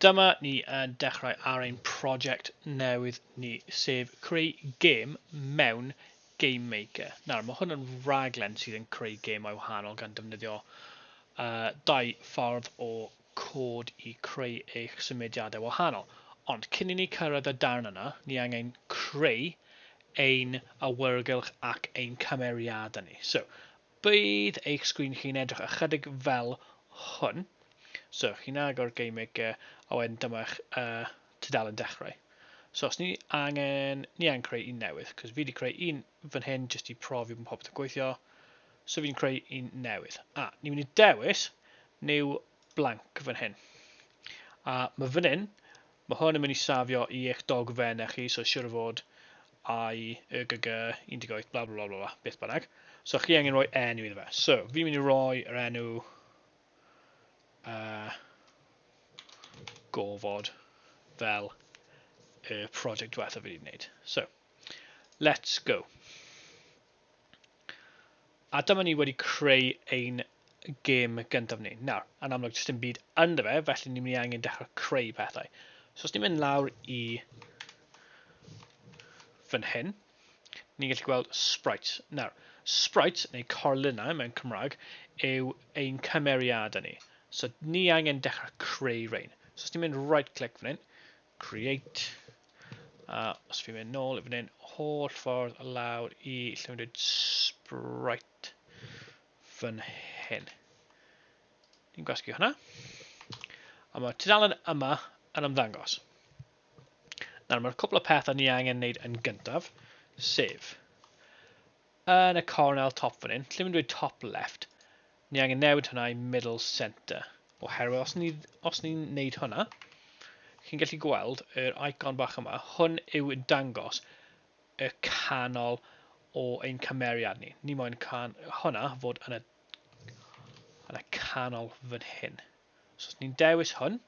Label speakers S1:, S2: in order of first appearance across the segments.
S1: Dyma ni yn dechrau ar ein prosiect newydd ni, sef creu gêm mewn Game Maker. Nawr, mae hwn yn raglen sydd yn creu gemau wahanol gan defnyddio uh, dau ffordd o cod i creu eich symudiadau wahanol, ond cyn i ni cyrraedd y darn yna, ni angen creu ein awyrgylch ac ein cymeriadau ni. So, bydd eich sgrin chi'n edrych ychydig fel hwn. So, chi'n agor Game Maker, a wedyn dyma'ch uh, tudalen dechrau. So, os ni angen, ni angen creu un newydd, cos fi wedi creu un fan hyn jyst i profi bod popeth yn gweithio. So, fi'n creu un newydd. A, ni'n mynd i dewis new blank fan hyn. A ma fan hyn, ma hwn yn mynd i safio i eich dogfen e chi, so siwr o fod I, y, gy, gy, 18, bla bla bla bla bla, beth bynnag. So chi angen rhoi enw iddo fe. So, fi'n mynd i roi yr enw uh, gofod fel y project diwetha fi wedi gwneud. So, let's go. A dyma ni wedi creu ein gêm gyntaf ni. Nawr, yn amlwg, jyst dim byd ynddo fe, felly ni'n mynd i angen dechrau creu pethau. So os ni'n mynd lawr i fan hyn, ni'n gallu gweld sprites. Nawr, sprites, neu corlinau mewn Cymraeg, yw ein cymeriadau ni. So ni angen dechrau creu rhain. So os ni'n mynd right click fan hyn, Create. A os fi'n mynd nôl i fan hyn, holl ffordd lawr i lle mae'n dweud sprite fan hyn. Ni'n gwasgu hwnna. A mae tudalen yma yn ymddangos. Nawr, mae'r cwpl o pethau ni angen wneud yn gyntaf, sef Yn y corn ail top fan hyn, lle mae'n dweud top left, ni angen newid hwnna i middle centre. Oherwydd os ni, os ni'n neud hwnna, chi'n gallu gweld yr icon bach yma, hwn yw yn dangos y canol o ein cymeriad ni. Ni moyn can, hwnna fod yn y, yn y canol fan hyn. So os ni'n dewis hwn,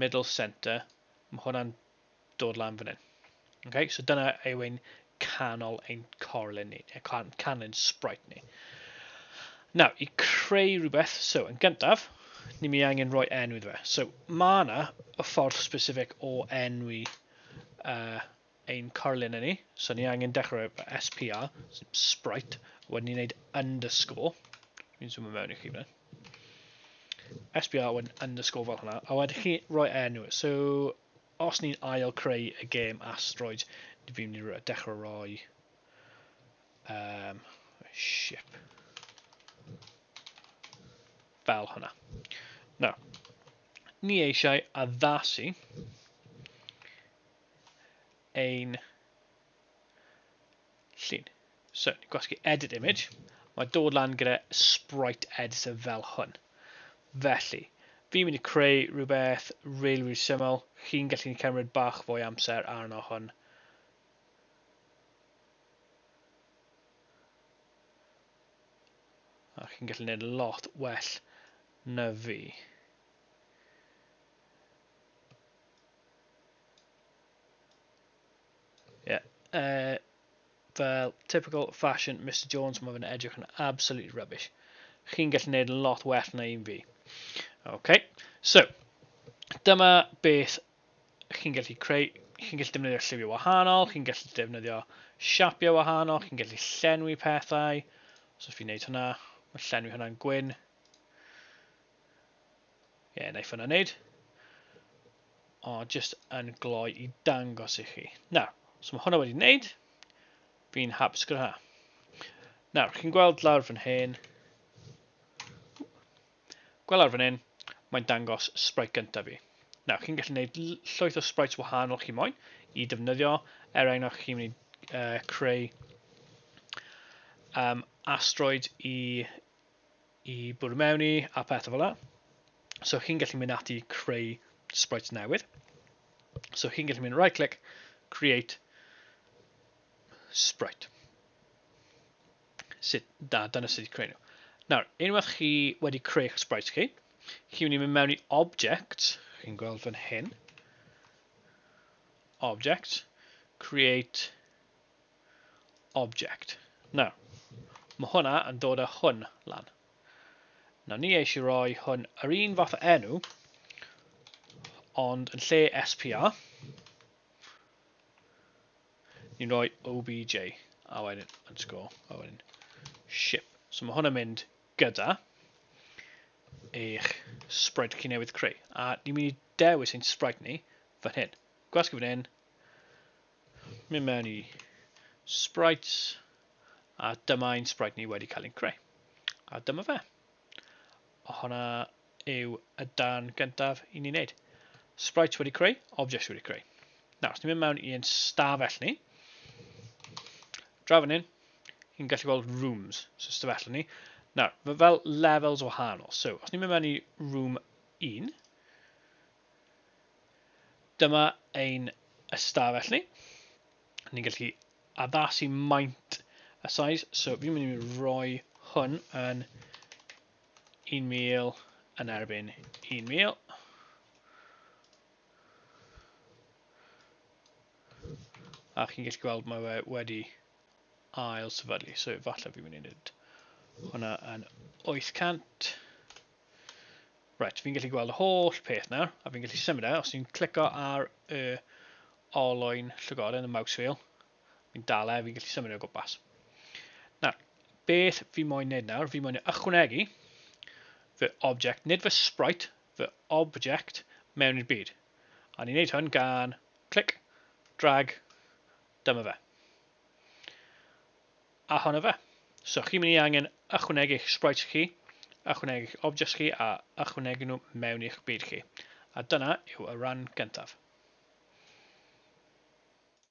S1: middle centre, mae hwnna'n dod lan fan hyn. Okay? So dyna yw ein canol ein corlun ni, neu can, canlun sprite ni. Nawr, i creu rhywbeth, so yn gyntaf, ni mi angen rhoi enw iddo fe. So mae yna y ffordd specific o enwi uh, ein corlun ni. So ni angen dechrau SPR, sprite, wedyn ni'n gwneud underscore. Fi'n zoom mewn i chi fan SPR wedyn underscore fel hwnna. A wedyn chi roi enw. So os ni'n ail creu y gêm asteroid, ni fi'n mynd i dechrau roi um, ship. Fel hwnna. No. Ni eisiau addasu ein llun. So, ni'n gwasgu edit image, mae dod lan gyda sprite editor fel hwn. Felly, fi'n mynd i creu rhywbeth really, really syml, chi'n gallu ni cymryd bach fwy amser arno hwn. A chi'n gallu gwneud lot well na fi. Yeah. Uh, fel typical fashion Mr Jones, mae fe'n edrych yn absolutely rubbish. Chi'n gallu gwneud yn lot well na un fi. Okay. So, dyma beth chi'n gallu creu, chi'n gallu defnyddio lliwiau wahanol, chi'n gallu defnyddio siapiau wahanol, chi'n gallu llenwi pethau. So fi'n neud hwnna, mae llenwi hwnna'n gwyn. Ie, yeah, wnaeth hwnna wneud. O, just yn gloi i dangos i chi. Nawr, os so mae hwnna wedi wneud, fi'n hapus gyda hwnna. Nawr, chi'n gweld lawr fan hyn, gweld lawr fan hyn, mae'n dangos sprite gyntaf fi. Nawr, chi'n gallu gwneud llwyth o sprites wahanol chi moyn i defnyddio, er enghraifft chi'n mynd i uh, creu um, asteroid i i bwrw mewn i a pethau fel la. So chi'n gallu mynd ati creu sprites newydd. So chi'n gallu mynd right click, create sprite. Sut, da, dyna sut i creu nhw. Nawr, unwaith chi wedi creu eich sprites chi, chi'n mynd i mynd mewn i object, chi'n gweld fan hyn, object, create object. Nawr, mae hwnna yn dod â hwn lan. Nawr ni eisiau rhoi hwn yr un fath o enw, ond yn lle SPR, ni'n rhoi OBJ, a wedyn yn sgôl, a wedyn ship. So mae hwn yn mynd gyda eich sprite chi newydd creu. A ni'n mynd i dewis ein sprite ni fan hyn. Gwasgu fan hyn, Mynd mewn i sprites, a dyma ein sprite ni wedi cael ein creu. A dyma fe. O hwnna yw y dan gyntaf i ni wneud. Sprites wedi creu, objects wedi creu. Nawr, os ni'n mynd mewn i ein stafell ni, draw fan hyn, ni'n gallu gweld rooms, so stafell ni. Nawr, fel levels wahanol. So, os ni'n mynd mewn i room 1, Dyma ein ystafell ni. Ni'n gallu addasu maint y size. So fi'n mynd i roi hwn yn 1,000 yn erbyn 1,000. A chi'n gallu gweld mae fe wedi ail sefydlu. So falle fi'n mynd i wneud hwnna yn 800. Reit, fi'n gallu gweld y holl peth nawr, a fi'n gallu symud e, os fi'n clico ar y olwyn llygoden, y mouse wheel, fi'n dal e, fi'n gallu symud e o gwmpas. Nawr, beth fi moyn wneud nawr, fi moyn ychwanegu fy object, nid fy sprite, fy object mewn i'r byd. A ni'n neud hwn gan clic, drag, dyma fe. A hwnna fe. So chi'n mynd i angen ychwanegu eich sprites chi, ychwanegu eich objects chi a ychwanegu nhw mewn i'ch byd chi. A dyna yw y ran gyntaf.